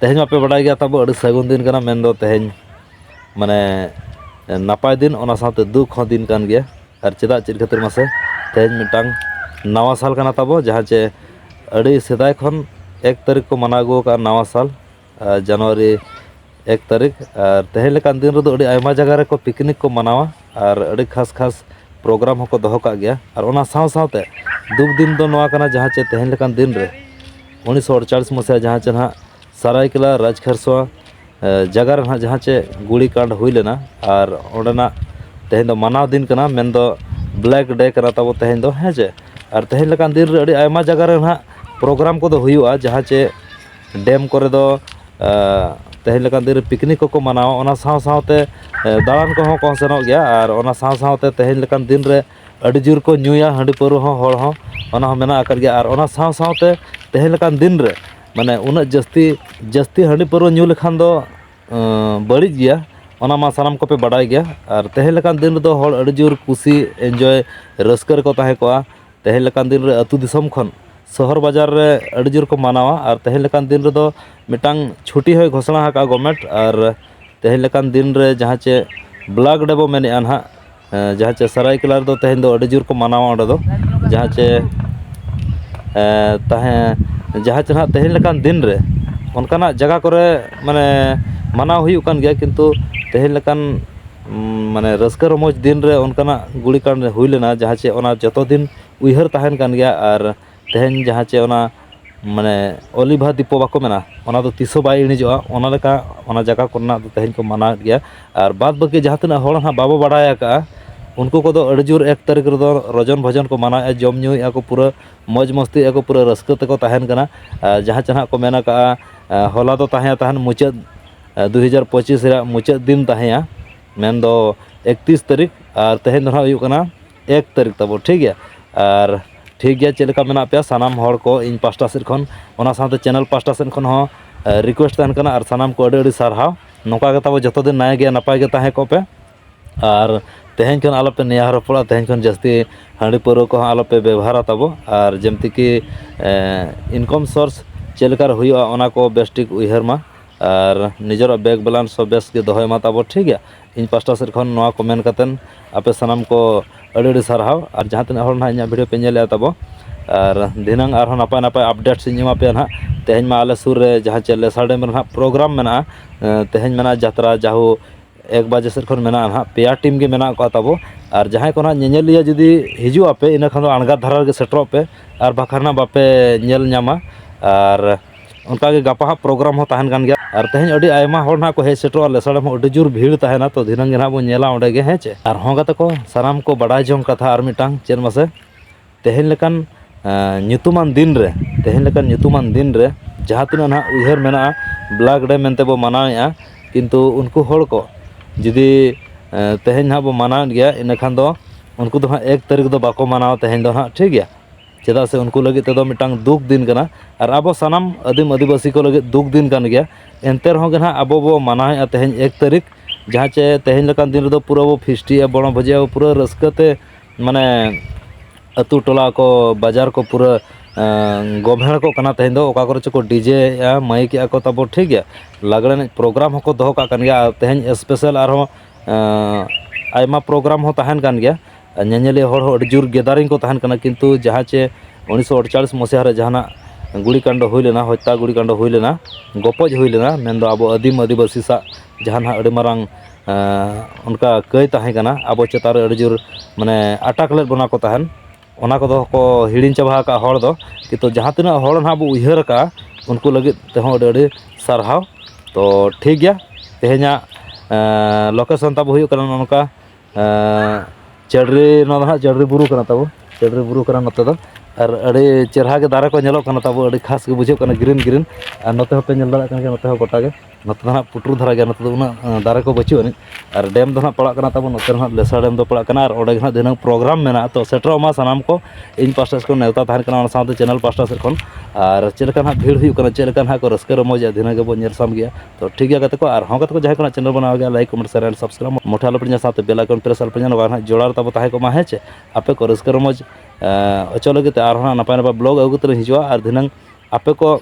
ᱛᱮᱦᱮᱧ ᱢᱟᱯᱮ ᱵᱟᱰᱟᱭ ᱜᱮᱭᱟ ᱛᱟᱵᱚ ᱟᱹᱰᱤ ᱥᱟᱹᱜᱩᱱ ᱫᱤᱱ ᱠᱟᱱᱟ ᱢᱮᱱᱫᱚ ᱛᱮᱦᱮᱧ ᱢᱟᱱᱮ ᱱᱟᱯᱟᱭ ᱫᱤᱱ ᱚᱱᱟ ᱥᱟᱶᱛᱮ ᱫᱩᱠ ᱦᱚᱸ ᱫᱤᱱ ᱠᱟᱱ ᱜᱮᱭᱟ ᱟᱨ ᱪᱮᱫᱟᱜ ᱪᱮᱫ ᱠᱷᱟᱹᱛᱤᱨ ᱢᱟᱥᱮ ᱛᱮᱦᱮᱧ ᱢᱤᱫᱴᱟᱝ ᱱᱟᱣᱟ ᱥᱟᱞ ᱠᱟᱱᱟ ᱛᱟᱵᱚ ᱡᱟᱦᱟᱸ ᱪᱮ ᱟᱹᱰᱤ ᱥᱮᱫᱟᱭ ᱠᱷᱚᱱ ᱮᱠ ᱛᱟᱹᱨᱤᱠᱷ ᱠᱚ ᱢᱟᱱᱟᱣ ᱟᱹᱜᱩ ᱟᱠᱟᱫᱼᱟ ᱱᱟᱣᱟ ᱥᱟᱞ ᱡᱟᱱᱩᱣᱟᱨᱤ ᱮᱠ ᱛᱟᱹᱨᱤᱠᱷ ᱟᱨ ᱛᱮᱦᱮᱧ ᱞᱮᱠᱟᱱ ᱫᱤᱱ ᱨᱮᱫᱚ ᱟᱹᱰᱤ ᱟᱭᱢᱟ ᱡᱟᱭᱜᱟ ᱨᱮᱠᱚ ᱯᱤᱠᱱᱤᱠ ᱠᱚ ᱢᱟᱱᱟᱣᱟ ᱟᱨ ᱟᱹᱰᱤ ᱠᱷᱟᱥ ᱠᱷᱟᱥ ᱯᱨᱳᱜᱨᱟᱢ ᱦᱚᱸᱠᱚ ᱫᱚᱦᱚ ᱠᱟᱜ ᱜᱮᱭᱟ ᱟᱨ ᱚᱱᱟ ᱥᱟᱶ ᱥᱟᱶᱛᱮ ᱫᱩᱠ ᱫᱤᱱ ᱫᱚ ᱱᱚᱣᱟ ᱠᱟᱱᱟ ᱡᱟᱦᱟᱸ ᱪᱮ ᱛᱮᱦᱮᱧ ᱞᱮᱠᱟᱱ ᱫᱤᱱ ᱨᱮ ᱩᱱᱤᱥᱥᱚ ᱟᱴᱪᱟᱞᱞᱤᱥ ᱢᱚᱥᱤᱦᱟ ᱡᱟᱦᱟᱸ ᱪᱮ ᱱᱟᱦᱟᱜ ᱥᱟᱨᱟᱭᱠᱮᱞᱟ ᱨᱟᱡᱽ ᱠᱷᱟᱨᱥᱚᱶᱟ ᱡᱟᱭᱜᱟ ᱨᱮ ᱱᱟᱦᱟᱜ ᱡᱟᱦᱟᱸ ᱪᱮ ᱜᱩᱞᱤ ᱠᱟᱱᱰ ᱦᱩᱭ ᱞᱮᱱᱟ ᱟᱨ ᱚᱸᱰᱮᱱᱟᱜ ᱛᱮᱦᱮᱧ ᱫᱚ ᱢᱟᱱᱟᱣ ᱫᱤᱱ ᱠᱟᱱᱟ ᱢᱮᱱ ᱫᱚ ᱵᱞᱮᱠ ᱰᱮ ᱠᱟᱱᱟ ᱛᱟᱵᱚ ᱛᱮᱦᱮᱧ ᱫᱚ ᱦᱮᱸ ᱪᱮ ᱟᱨ ᱛᱮᱦᱮᱧ ᱞᱮᱠᱟᱱ ᱫᱤᱱ ᱨᱮ ᱟᱹᱰᱤ ᱟᱭᱢᱟ ᱡᱟᱭᱜᱟ ᱨᱮ ᱱᱟᱦᱟᱜ ᱯᱨᱳᱜᱨᱟᱢ ᱠᱚᱫᱚ ᱦᱩᱭᱩᱜᱼᱟ ᱡᱟᱦᱟᱸ ᱪᱮ ᱰᱮᱢ ᱠᱚᱨᱮ ᱫᱚ ᱛᱮᱦᱮᱧ ᱞᱮᱠᱟᱱ ᱫᱤᱱ ᱨᱮ ᱯᱤᱠᱱᱤᱠ ᱠᱚᱠᱚ ᱢᱟᱱᱟᱣᱟ ᱚᱱᱟ ᱥᱟᱶ ᱥᱟᱶᱛᱮ ᱫᱟᱬᱟᱱ ᱠᱚᱦᱚᱸ ᱠᱚ ᱥᱮᱱᱚᱜ ᱜᱮᱭᱟ ᱟᱨ ᱚᱱᱟ ᱥᱟᱶ ᱥᱟᱶᱛᱮ ᱛᱮᱦᱮᱧ ᱞᱮᱠᱟᱱ ᱫᱤᱱ ᱨᱮ ᱟᱹᱰᱤ ᱡᱳᱨ ᱠᱚ ᱧᱩᱭᱟ ᱦᱟᱺᱰᱤ ᱯᱟᱹᱣᱨᱟᱹ ᱦᱚᱸ ᱦᱚᱲ ᱦᱚᱸ ᱚᱱᱟ ᱦᱚᱸ ᱢᱮᱱᱟᱜ ᱟᱠᱟᱫ ᱜᱮᱭᱟ ᱟᱨ ᱚᱱᱟ ᱥᱟᱶ ᱥᱟᱶᱛᱮ ᱛᱮᱦᱮᱧ ᱞᱮᱠᱟᱱ ᱫᱤᱱ ᱨᱮ ᱢᱟᱱᱮ ᱩᱱᱟᱹᱜ ᱡᱟᱹᱥᱛᱤ ᱡᱟᱹᱥᱛᱤ ᱦᱟᱺᱰᱤ ᱯᱟᱹᱣᱨᱟᱹ ᱧᱩ ᱞᱮᱠᱷᱟᱱ ᱫᱚ ᱵᱟᱹᱲᱤᱡ ᱜᱮᱭᱟ ᱚᱱᱟ ᱢᱟ ᱥᱟᱱᱟᱢ ᱠᱚᱯᱮ ᱵᱟᱰᱟᱭ ᱜᱮᱭᱟ ᱟᱨ ᱛᱮᱦᱮᱧ ᱞᱮᱠᱟᱱ ᱫᱤᱱ ᱨᱮᱫᱚ ᱦᱚᱲ ᱟᱹᱰᱤ ᱡᱳᱨ ᱠᱩᱥᱤ ᱤᱱᱡᱚᱭ ᱨᱟᱹᱥᱠᱟᱹ ᱨᱮᱠᱚ ᱛᱟᱦᱮᱸ ᱠᱚᱜᱼᱟ ᱛᱮᱦᱮᱧ ᱞᱮᱠᱟᱱ ᱫᱤᱱ ᱨᱮ ᱟᱹᱛᱩ ᱫᱤᱥᱚᱢ ᱠᱷᱚᱱ ᱥᱚᱦᱚᱨ ᱵᱟᱡᱟᱨ ᱨᱮ ᱟᱹᱰᱤ ᱡᱳᱨ ᱠᱚ ᱢᱟᱱᱟᱣᱟ ᱟᱨ ᱛᱮᱦᱮᱧ ᱞᱮᱠᱟᱱ ᱫᱤᱱ ᱨᱮᱫᱚ ᱢᱤᱫᱴᱟᱝ ᱪᱷᱩᱴᱤ ᱦᱚᱸᱭ ᱜᱷᱳᱥᱚᱱᱟ ᱟᱠᱟᱫᱼᱟ ᱜᱚᱵᱷᱢᱮᱱᱴ ᱟᱨ ᱛᱮᱦᱮᱧ ᱞᱮᱠᱟᱱ ᱫᱤᱱ ᱨᱮ ᱡᱟᱦᱟᱸ ᱪᱮ ᱵᱞᱮᱠ ᱰᱮ ᱵᱚᱱ ᱢᱮᱱᱮᱫᱼᱟ ᱦᱟᱸᱜ ᱡᱟᱦᱟᱸ ᱪᱮ ᱥᱟᱹᱨᱟᱹᱭᱠᱮᱞᱟ ᱨᱮᱫᱚ ᱛᱮᱦᱮᱧ ᱫᱚ ᱟᱹᱰᱤ ᱡᱳᱨ ᱠᱚ ᱢᱟᱱᱟᱣᱟ ᱚᱸᱰᱮ ᱫᱚ ᱡᱟᱦᱟᱸ ᱪᱮ ᱛᱟᱦᱮᱸ ᱡᱟᱦᱟᱸ ᱪᱮ ᱦᱟᱸᱜ ᱛᱮᱦᱮᱧ ᱞᱮᱠᱟᱱ ᱫᱤᱱ ᱨᱮ ᱚᱱᱠᱟᱱᱟᱜ ᱡᱟᱭᱜᱟ ᱠᱚᱨᱮᱜ ᱢᱟᱱᱮ ᱢᱟᱱᱟᱣ ᱦᱩᱭᱩᱜ ᱠᱟᱱ ᱜᱮᱭᱟ ᱠᱤᱱᱛᱩ ᱛᱮᱦᱮᱧ ᱞᱮᱠᱟᱱ ᱢᱟᱱᱮ ᱨᱟᱹᱥᱠᱟᱹ ᱨᱚᱢᱚᱡᱽ ᱫᱤᱱ ᱨᱮ ᱚᱱᱠᱟᱱᱟᱜ ᱜᱩᱞᱤ ᱠᱟᱱᱰ ᱦᱩᱭ ᱞᱮᱱᱟ ᱡᱟᱦᱟᱸ ᱪᱮ ᱚᱱᱟ ᱡᱚᱛᱚ ᱫᱤᱱ ᱩᱭᱦᱟᱹᱨ ᱛᱟᱦᱮᱱ ᱠᱟᱱ ᱜᱮᱭᱟ ᱟᱨ ᱛᱮᱦᱮᱧ ᱡᱟᱦᱟᱸ ᱪᱮ ᱚᱱᱟ ᱢᱟᱱᱮ ᱚᱞᱤᱵᱷᱟ ᱫᱤᱯᱚ ᱵᱟᱠᱚ ᱢᱮᱱᱟ ᱚᱱᱟ ᱫᱚ ᱛᱤᱥ ᱦᱚᱸ ᱵᱟᱭ ᱤᱬᱤᱡᱚᱜᱼᱟ ᱚᱱᱟ ᱞᱮᱠᱟ ᱚᱱᱟ ᱡᱟᱭᱜᱟ ᱠᱚᱨᱮᱱᱟᱜ ᱫᱚ ᱛᱮᱦᱮᱧ ᱠᱚ ᱢᱟᱱᱟᱣᱮᱫ ᱜᱮᱭᱟ ᱟᱨ ᱵᱟᱫ ᱵᱟᱹᱠᱤ ᱡᱟᱦᱟᱸ ᱛᱤᱱᱟᱹᱜ ᱦᱚᱲ ᱦᱟᱸᱜ ᱵᱟᱵᱚ ᱵᱟᱲᱟᱭ ᱠᱟᱜᱼᱟ ᱩᱱᱠᱩ ᱠᱚᱫᱚ ᱟᱹᱰᱤ ᱡᱳᱨ ᱮᱠ ᱛᱟᱹᱨᱤᱠ ᱨᱮᱫᱚ ᱨᱚᱡᱚᱱ ᱵᱷᱚᱡᱚᱱ ᱠᱚ ᱢᱟᱱᱟᱣᱮᱜᱼᱟ ᱡᱚᱢ ᱧᱩᱭᱮᱜᱼᱟ ᱠᱚ ᱯᱩᱨᱟᱹ ᱢᱚᱡᱽ ᱢᱚᱥᱛᱤᱭᱮᱜᱼᱟ ᱠᱚ ᱯᱩᱨᱟᱹ ᱨᱟᱹᱥᱠᱟᱹ ᱛᱮᱠᱚ ᱛᱟᱦᱮᱱ ᱠᱟᱱᱟ ᱟᱨ ᱡᱟᱦᱟᱸ ᱪᱮ ᱦᱟᱸᱜ ᱠᱚ ᱢᱮᱱ ᱠᱟᱜᱼᱟ ᱦᱚᱞᱟ ᱫᱚ ᱛᱟᱦᱮᱸ ᱛᱟᱦᱮᱱ ᱢᱩᱪᱟᱹᱫ ᱫᱩ ᱦᱟᱡᱟᱨ ᱯᱚᱸᱪᱤᱥ ᱨᱮᱭᱟᱜ ᱢᱩᱪᱟᱹᱫ ᱫᱤᱱ ᱛᱟᱦᱮᱸᱭᱟ ᱢᱮᱱᱫᱚ ᱮᱠᱛᱤᱨᱤᱥ ᱛᱟᱹᱨᱤᱠᱷ ᱟᱨ ᱛᱮᱦᱮᱧ ᱫᱚ ᱦᱟᱸᱜ ᱦᱩᱭᱩᱜ ᱠᱟᱱᱟ ᱮᱠ ᱛᱟᱹᱨᱤᱠᱷ ᱛᱟᱵᱚᱱ ᱴᱷᱤᱠ ᱜᱮᱭᱟ ᱟᱨ ᱴᱷᱤᱠ ᱜᱮᱭᱟ ᱪᱮᱫ ᱞᱮᱠᱟ ᱢᱮᱱᱟᱜ ᱯᱮᱭᱟ ᱥᱟᱱᱟᱢ ᱦᱚᱲ ᱠᱚ ᱤᱧ ᱯᱟᱥᱴᱟ ᱥᱮᱫ ᱠᱷᱚᱱ ᱚᱱᱟ ᱥᱟᱶᱛᱮ ᱪᱮᱱᱮᱞ ᱯᱟᱥᱴᱟ ᱥᱮᱫ ᱠᱷᱚᱱ ᱦᱚᱸ ᱨᱤᱠᱩᱭᱮᱥᱴ ᱛᱟᱦᱮᱱ ᱠᱟᱱᱟ ᱟᱨ ᱥᱟᱱᱟᱢ ᱠᱚ ᱟᱹᱰᱤ ᱟᱹᱰᱤ ᱥᱟᱨᱦᱟᱣ ᱱᱚᱝᱠᱟ ᱜᱮ ᱛᱟᱵᱚ ᱡᱚᱛᱚ ᱫᱤᱱ ᱱᱟᱭ ᱜᱮ ᱱᱟᱯᱟᱭ ᱜᱮ ᱛᱟᱦᱮᱸ ᱠᱚᱜ ᱯᱮ ᱟᱨ ᱛᱮᱦᱮᱧ ᱠᱷᱚᱱ ᱟᱞᱚᱯᱮ ᱱᱮᱭᱟᱣ ᱨᱚᱯᱚᱲᱟ ᱛᱮᱦᱮᱧ ᱠᱷᱚᱱ ᱡᱟᱹᱥᱛᱤ ᱦᱟᱺᱰᱤ ᱯᱟᱹᱣᱨᱟᱹ ᱠᱚᱦᱚᱸ ᱟᱞᱚᱯᱮ ᱵᱮᱵᱚᱦᱟᱨᱟ ᱛᱟᱵᱚ ᱟᱨ ᱡᱮᱢᱛᱤ ᱠᱤ ᱤᱱᱠᱟᱢ ᱥᱳᱨᱥ ᱪᱮᱫ ᱞᱮᱠᱟᱨᱮ ᱦᱩᱭᱩᱜᱼᱟ ᱚᱱᱟ ᱠᱚ ᱵᱮᱥ ᱴᱷᱤᱠ ᱩᱭᱦᱟᱹᱨ ᱢᱟ ᱟᱨ ᱱᱤᱡᱮᱨᱟᱜ ᱵᱮᱝᱠ ᱵᱮᱞᱮᱱᱥ ᱦᱚᱸ ᱵᱮᱥ ᱜᱮ ᱫᱚᱦᱚᱭ ᱢᱟ ᱛᱟᱵᱚ ᱴᱷᱤᱠ ᱜᱮᱭᱟ ᱤᱧ ᱯᱟᱥᱴᱟ ᱥᱮᱫ ᱠᱷᱚᱱ ᱱᱚᱣᱟ ᱠᱚ ᱢᱮᱱ ᱠᱟᱛᱮᱫ ᱟᱯᱮ ᱥᱟᱱᱟᱢ ᱠᱚ ᱟᱹᱰᱤ ᱟᱹᱰᱤ ᱥᱟᱨᱦᱟᱣ ᱟᱨ ᱡᱟᱦᱟᱸ ᱛᱤᱱᱟᱹᱜ ᱦᱚᱲ ᱦᱟᱸᱜ ᱤᱧᱟᱹᱜ ᱵᱷᱤᱰᱭᱳ ᱯᱮ ᱧᱮᱞᱮᱫᱼᱟ ᱛᱟᱵᱚ ᱟᱨ ᱫᱷᱤᱱᱟᱹᱝ ᱟᱨᱦᱚᱸ ᱱᱟᱯᱟᱭ ᱱᱟᱯᱟᱭ ᱟᱯᱰᱮᱴ ᱤᱧ ᱮᱢᱟ ᱯᱮᱭᱟ ᱦᱟᱸᱜ ᱛᱮᱦᱮᱧ ᱢᱟ ᱟᱞᱮ ᱥᱩᱨ ᱨᱮ ᱡᱟᱦᱟᱸ ᱪᱮ ᱞᱮᱥᱟᱲ ᱰᱮᱢ ᱨᱮ ᱦᱟᱸᱜ ᱯᱨᱳᱜᱨᱟᱢ ᱢᱮᱱᱟᱜᱼᱟ ᱛᱮᱦᱮᱧ ᱢᱮᱱᱟᱜᱼᱟ ᱡᱟᱛᱨᱟ ᱡᱟᱦᱳ ᱮᱠ ᱵᱟᱡᱮ ᱥᱮᱫ ᱠᱷᱚᱱ ᱢᱮᱱᱟᱜᱼᱟ ᱦᱟᱸᱜ ᱯᱮᱭᱟ ᱴᱤᱢ ᱜᱮ ᱢᱮᱱᱟᱜ ᱠᱚᱣᱟ ᱛᱟᱵᱚ ᱟᱨ ᱡᱟᱦᱟᱸᱭ ᱠᱚ ᱦᱟᱸᱜ ᱧᱮᱧᱮᱞᱤᱭᱟᱹ ᱡᱩᱫᱤ ᱦᱤᱡᱩᱜ ᱟᱯᱮ ᱤᱱᱟᱹ ᱠᱷᱟᱱ ᱫᱚ ᱟᱬᱜᱟᱛ ᱫᱷᱟᱨᱟ ᱨᱮᱜᱮ ᱥᱮᱴᱮᱨᱚᱜ ᱯᱮ ᱟᱨ ᱵᱟᱠᱷᱟᱱ ᱦᱟᱸᱜ ᱵᱟᱯᱮ ᱧᱮᱞ ᱧᱟᱢᱟ ᱟᱨ ᱚᱱᱠᱟ ᱜᱮ ᱜᱟᱯᱟ ᱦᱟᱸᱜ ᱯᱨᱳᱜᱨᱟᱢ ᱦᱚᱸ ᱛᱟᱦᱮᱱ ᱠᱟᱱ ᱜᱮᱭᱟ ᱟᱨ ᱛᱮᱦᱮᱧ ᱟᱹᱰᱤ ᱟᱭᱢᱟ ᱦᱚᱲ ᱱᱟᱦᱟᱜ ᱠᱚ ᱦᱮᱡ ᱥᱮᱴᱮᱨᱚᱜᱼᱟ ᱞᱮᱥᱟᱲᱦᱮᱫ ᱦᱚᱸ ᱟᱹᱰᱤ ᱡᱳᱨ ᱵᱷᱤᱲ ᱛᱟᱦᱮᱱᱟ ᱛᱚ ᱫᱷᱤᱱᱟᱹᱝ ᱜᱮ ᱱᱟᱦᱟᱜ ᱵᱚᱱ ᱧᱮᱞᱟ ᱚᱸᱰᱮ ᱜᱮ ᱦᱮᱸ ᱪᱮ ᱟᱨ ᱦᱚᱸ ᱜᱟᱛᱮ ᱠᱚ ᱥᱟᱱᱟᱢ ᱠᱚ ᱵᱟᱰᱟᱭ ᱡᱚᱝ ᱠᱟᱛᱷᱟ ᱟᱨ ᱢᱤᱫᱴᱟᱝ ᱪᱮᱫ ᱢᱟᱥᱮ ᱛᱮᱦᱮᱧ ᱞᱮᱠᱟᱱ ᱧᱩᱛᱩᱢᱟᱱ ᱫᱤᱱ ᱨᱮ ᱛᱮᱦᱮᱧ ᱞᱮᱠᱟᱱ ᱧᱩᱛᱩᱢᱟᱱ ᱫᱤᱱ ᱨᱮ ᱡᱟᱦᱟᱸ ᱛᱤᱱᱟᱹᱜ ᱱᱟᱦᱟᱜ ᱩᱭᱦᱟᱹᱨ ᱢᱮᱱᱟᱜᱼᱟ ᱵᱞᱮᱠ ᱰᱮ ᱢᱮᱱᱛᱮ ᱵᱚᱱ ᱢᱟᱱᱟᱣᱮᱜᱼᱟ ᱠᱤᱱᱛᱩ ᱩᱱᱠᱩ ᱦᱚᱲ ᱠᱚ ᱡᱩᱫᱤ ᱛᱮᱦᱮᱧ ᱱᱟᱦᱟᱜ ᱵᱚᱱ ᱢᱟᱱᱟᱣᱮᱫ ᱜᱮᱭᱟ ᱤᱱᱟᱹ ᱠᱷᱟᱱ ᱫᱚ ᱩᱱᱠᱩ ᱫᱚ ᱦᱟᱸᱜ ᱮᱹᱠ ᱛᱟᱹᱨᱤᱠᱷ ᱫᱚ ᱵᱟᱠᱚ ᱢᱟᱱᱟᱣᱟ ᱛᱮᱦᱮᱧ ᱫᱚ ᱦᱟᱸᱜ ᱴᱷᱤᱠ ᱜᱮᱭᱟ ᱪᱮᱫᱟᱜ ᱥᱮ ᱩᱱᱠᱩ ᱞᱟᱹᱜᱤᱫ ᱛᱮᱫᱚ ᱢᱤᱫᱴᱟᱝ ᱫᱩᱠ ᱫᱤᱱ ᱠᱟᱱᱟ ᱟᱨ ᱟᱵᱚ ᱥᱟᱱᱟᱢ ᱟᱹᱫᱤᱢ ᱟᱹᱫᱤᱵᱟᱹᱥᱤ ᱠᱚ ᱞᱟᱹᱜᱤᱫ ᱫᱩᱠ ᱫᱤᱱ ᱠᱟᱱ ᱜᱮᱭᱟ ᱮᱱᱛᱮ ᱨᱮᱦᱚᱸ ᱜᱮ ᱦᱟᱸᱜ ᱟᱵᱚ ᱵᱚᱱ ᱢᱟᱱᱟᱣᱮᱫᱼᱟ ᱛᱮᱦᱮᱧ ᱮᱹᱠ ᱛᱟᱹᱨᱤᱠᱷ ᱡᱟᱦᱟᱸ ᱪᱮ ᱛᱮᱦᱮᱧ ᱞᱮᱠᱟᱱ ᱫᱤᱱ ᱨᱮᱫᱚ ᱯᱩᱨᱟᱹ ᱵᱚᱱ ᱯᱷᱤᱥᱴᱤᱭᱟ ᱵᱚᱱ ᱵᱷᱚᱡᱤᱭᱟ ᱯᱩᱨᱟᱹ ᱨᱟᱹᱥᱠᱟᱹ ᱛᱮ ᱢᱟᱱᱮ ᱟᱹᱛᱩ ᱴᱚᱞᱟ ᱠᱚ ᱵᱟᱡᱟᱨ ᱠᱚ ᱯᱩᱨᱟᱹ ᱜᱳᱢᱦᱮᱲ ᱠᱚᱜ ᱠᱟᱱᱟ ᱛᱮᱦᱮᱧ ᱫᱚ ᱚᱠᱟ ᱠᱚᱨᱮ ᱪᱚᱠᱚ ᱰᱤᱡᱮᱭᱮᱫᱼᱟ ᱢᱟᱹᱭᱤᱠᱮᱫᱼᱟ ᱠᱚ ᱛᱟᱵᱚ ᱴᱷᱤᱠ ᱜᱮᱭᱟ ᱞᱟᱜᱽᱬᱮ ᱮᱱᱮᱡ ᱯᱨᱳᱜᱨᱟᱢ ᱦᱚᱸᱠᱚ ᱫᱚᱦᱚ ᱠᱟᱜ ᱠᱟᱱ ᱜᱮᱭᱟ ᱟᱨ ᱛᱮᱦᱮᱧ ᱥᱯᱮᱥᱟᱞ ᱟᱨᱦᱚᱸ ᱟᱭᱢᱟ ᱯᱨᱳᱜᱨᱟᱢ ᱦᱚᱸ ᱛᱟᱦᱮᱱ ᱠᱟᱱ ᱜᱮᱭᱟ ᱟᱨ ᱧᱮᱧᱮᱞᱤᱭᱟᱹ ᱦᱚᱲ ᱦᱚᱸ ᱟᱹᱰᱤ ᱡᱳᱨ ᱜᱮᱫᱟᱨᱤᱝ ᱠᱚ ᱛᱟᱦᱮᱱ ᱠᱟᱱᱟ ᱠᱤᱱᱛᱩ ᱡᱟᱦᱟᱸ ᱪᱮ ᱩᱱᱤᱥᱥᱚ ᱟᱴᱪᱟᱞᱞᱤᱥ ᱢᱚᱥᱤᱦᱟ ᱨᱮ ᱡᱟᱦᱟᱱᱟᱜ ᱜᱩᱞᱤ ᱠᱟᱱᱰᱚ ᱦᱩᱭ ᱞᱮᱱᱟ ᱦᱚᱛᱛᱟ ᱜᱩᱞᱤ ᱠᱟᱱᱰᱚ ᱦᱩᱭ ᱞᱮᱱᱟ ᱜᱚᱯᱚᱡ ᱦᱩᱭ ᱞᱮᱱᱟ ᱢᱮᱱ ᱫᱚ ᱟᱵᱚ ᱟᱹᱫᱤᱢ ᱟᱹᱫᱤᱵᱟᱹᱥᱤ ᱥᱟᱜ ᱡᱟᱦᱟᱸ ᱱᱟᱜ ᱟᱹᱰᱤ ᱢᱟᱨᱟᱝ ᱚᱱᱠᱟ ᱠᱟᱹᱭ ᱛᱟᱦᱮᱸ ᱠᱟᱱᱟ ᱟᱵᱚ ᱪᱮᱛᱟᱱ ᱨᱮ ᱟᱹᱰᱤ ᱡᱳᱨ ᱢᱟᱱᱮ ᱟᱴᱟᱠ ᱞᱮᱫ ᱵᱚᱱᱟ ᱠᱚ ᱛᱟᱦᱮᱱ ᱚᱱᱟ ᱠᱚᱫᱚ ᱠᱚ ᱦᱤᱲᱤᱧ ᱪᱟᱵᱟ ᱟᱠᱟᱫᱼᱟ ᱦᱚᱲ ᱫᱚ ᱠᱤᱱᱛᱩ ᱡᱟᱦᱟᱸ ᱛᱤᱱᱟᱹᱜ ᱦᱚᱲ ᱦᱟᱸᱜ ᱵᱚᱱ ᱩᱭᱦᱟᱹᱨ ᱠᱟᱜᱼᱟ ᱩᱱᱠᱩ ᱞᱟᱹᱜᱤᱫ ᱛᱮᱦᱚᱸ ᱟᱹᱰᱤ ᱟᱹᱰᱤ ᱥᱟᱨᱦᱟᱣ ᱛᱳ ᱴᱷᱤᱠ ᱜᱮᱭᱟ ᱛᱮᱦᱮᱧᱟᱜ ᱞᱳᱠᱮᱥᱚᱱ ᱛᱟᱵᱚᱱ ᱦᱩᱭᱩᱜ ᱠᱟᱱᱟ ᱱᱚᱜᱼᱚ ᱱᱚᱝᱠᱟ ᱪᱟᱹᱰᱨᱤ ᱱᱚᱣᱟ ᱫᱚ ᱦᱟᱸᱜ ᱪᱟᱹᱰᱨᱤ ᱵᱩᱨᱩ ᱠᱟᱱᱟ ᱛᱟᱵᱚ ᱪᱟᱹᱰᱨᱤ ᱵᱩᱨᱩ ᱠᱟᱱᱟ ᱱᱚᱛᱮ ᱫᱚ ᱟᱨ ᱟᱹᱰᱤ ᱪᱮᱦᱨᱟ ᱜᱮ ᱫᱟᱨᱮ ᱠᱚ ᱧᱮᱞᱚᱜ ᱠᱟᱱᱟ ᱛᱟᱵᱚ ᱟᱹᱰᱤ ᱠᱷᱟᱥ ᱜᱮ ᱵᱩᱡᱷᱟᱹᱜ ᱠᱟᱱᱟ ᱜᱨᱤᱱ ᱜᱨᱤᱱ ᱟᱨ ᱱᱚᱛᱮ ᱦᱚᱸᱯᱮ ᱧᱮᱞ ᱫᱟᱲᱮᱭᱟᱜ ᱠᱟᱱ ᱜᱮᱭᱟ ᱱᱚᱛᱮ ᱦᱚᱸ ᱜᱳᱴᱟᱜᱮ ᱱᱚᱛᱮ ᱫᱚ ᱦᱟᱸᱜ ᱯᱩᱴᱩᱨ ᱫᱷᱟᱨᱟ ᱜᱮᱭᱟ ᱱᱚᱛᱮ ᱫᱚ ᱩᱱᱟᱹᱜ ᱫᱟᱨᱮ ᱠᱚ ᱵᱟᱹᱪᱩᱜ ᱟᱹᱱᱤᱡ ᱟᱨ ᱰᱮᱢ ᱫᱚ ᱦᱟᱸᱜ ᱯᱟᱲᱟᱜ ᱠᱟᱱᱟ ᱛᱟᱵᱚ ᱱᱚᱛᱮ ᱫᱚ ᱦᱟᱸᱜ ᱞᱮᱥᱟ ᱰᱮᱢ ᱫᱚ ᱯᱟᱲᱟᱜ ᱠᱟᱱᱟ ᱟᱨ ᱚᱸᱰᱮ ᱜᱮ ᱦᱟᱸᱜ ᱫᱷᱤᱱᱟᱹᱝ ᱯᱨᱳᱜᱨᱟᱢ ᱢᱮᱱᱟᱜᱼᱟ ᱛᱚ ᱥᱮᱴᱮᱨᱚᱜ ᱢᱟ ᱥᱟᱱᱟᱢ ᱠᱚ ᱤᱧ ᱯᱟᱥᱴᱟ ᱥᱮᱫ ᱠᱷᱚᱱ ᱱᱮᱶᱛᱟ ᱛᱟᱦᱮᱱ ᱠᱟᱱᱟ ᱚᱱᱟ ᱥᱟᱶᱛᱮ ᱪᱮᱱᱮᱞ ᱯᱟᱥᱴᱟ ᱥᱮᱫ ᱠᱷᱚᱱ ᱟᱨ ᱪᱮᱫ ᱞᱮᱠᱟ ᱦᱟᱸᱜ ᱵᱷᱤᱲ ᱦᱩᱭᱩᱜ ᱠᱟᱱᱟ ᱪᱮᱫ ᱞᱮᱠᱟ ᱦᱟᱸᱜ ᱠᱚ ᱨᱟᱹᱥᱠᱟᱹ ᱨᱚᱢᱚᱡᱟ ᱫᱷᱤᱱᱟᱹᱝ ᱜᱮᱵᱚᱱ ᱧᱮᱞ ᱥᱟᱢᱜᱮᱭᱟ ᱛᱚ ᱴᱷᱤᱠ ᱜᱮᱭᱟ ᱜᱟᱛᱮ ᱠᱚ ᱟᱨ ᱦᱚᱸ ᱜᱟᱛᱮ ᱠᱚ ᱡᱟᱦᱟᱸᱭ ᱠᱚ ᱱᱟᱜ ᱪᱮᱱᱮᱞ ᱵᱚᱱᱟᱣ ᱜᱮᱭᱟ like comment share and subscribe ᱢᱚᱴᱷᱟ ᱟᱞᱚᱯᱮ ᱧᱟ ᱥᱟᱶᱛᱮ ᱵᱮᱞ ᱟᱭᱠᱚᱱ ᱯᱨᱮᱥ ᱟᱞᱚᱯᱮ ᱧᱟ ᱱᱚᱣᱟ ᱱᱟᱜ ᱡᱚᱲᱟᱣ ᱨᱮ ᱛᱟᱵᱚ ᱛᱟᱦᱮᱸ ᱠᱚᱜ ᱢᱟ ᱦᱮᱸ ᱪᱮ ᱟᱯᱮ ᱠᱚ ᱨᱟᱹᱥᱠᱟᱹ ᱨᱚᱢᱚᱡᱽ ᱚᱪᱚ ᱞᱟᱹᱜᱤᱫ ᱛᱮ ᱟᱨ ᱦᱚᱸ ᱱᱟᱯᱟᱭ ᱱᱟᱯᱟᱭ ᱵᱞᱚᱜᱽ ᱟᱹᱜᱩ ᱠᱟᱛᱮ ᱞᱤᱧ ᱦᱤᱡᱩᱜᱼᱟ ᱟᱨ ᱫᱷᱤᱱᱟᱹᱝ ᱟᱯᱮ ᱠᱚ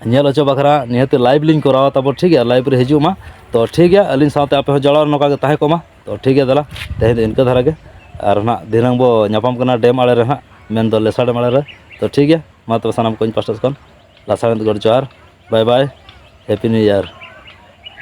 ᱧᱮᱞ ᱦᱚᱪᱚ ᱵᱟᱠᱷᱨᱟ ᱱᱤᱦᱟᱹᱛ ᱞᱟᱭᱤᱵᱷ ᱞᱤᱧ ᱠᱚᱨᱟᱣᱟ ᱛᱟᱵᱚ ᱴᱷᱤᱠ ᱜᱮᱭᱟ ᱞᱟᱭᱤᱵᱷ ᱨᱮ ᱦᱤᱡᱩᱜ ᱢᱟ ᱛᱚ ᱴᱷᱤᱠ ᱜᱮᱭᱟ ᱟᱹᱞᱤᱧ ᱥᱟᱶᱛᱮ ᱟᱯᱮ ᱦᱚᱸ ᱡᱚᱲᱟᱣ ᱨᱮ ᱱᱚᱝᱠᱟ ᱜᱮ ᱛᱟᱦᱮᱸ ᱠᱚᱜ ᱢᱟ ᱛᱚ ᱴᱷᱤᱠ ᱜᱮᱭᱟ ᱫᱮᱞᱟ ᱛᱮᱦᱮᱧ ᱫᱚ ᱤᱱᱠᱟᱹ ᱫᱷᱟᱨᱟ ᱜᱮ ᱟᱨ ᱦᱚᱸ ᱱᱟᱜ ᱫᱷᱤᱱᱟᱹᱝ ᱵᱚ ᱧᱟᱯᱟᱢ ᱠᱟᱱᱟ ᱰᱮᱢ ᱟᱬᱮ ᱨᱮ ᱦᱟᱸᱜ ᱢᱮᱱᱫᱚ ᱞᱮᱥᱟᱲ ᱰᱮᱢ ᱟᱬᱮ ᱨᱮ ᱛᱚ ᱴᱷᱤᱠ ᱜᱮᱭᱟ ᱢᱟ ᱛᱚᱵᱮ ᱥᱟᱱᱟᱢ ᱠᱚ ᱤᱧ ᱯᱟᱥᱴᱟ ᱥᱮᱫ ᱠᱷᱚᱱ ᱞᱟᱥᱟᱬᱦᱮᱫ ᱜᱚᱰ ᱡᱚᱦᱟᱨ bye bye happy new year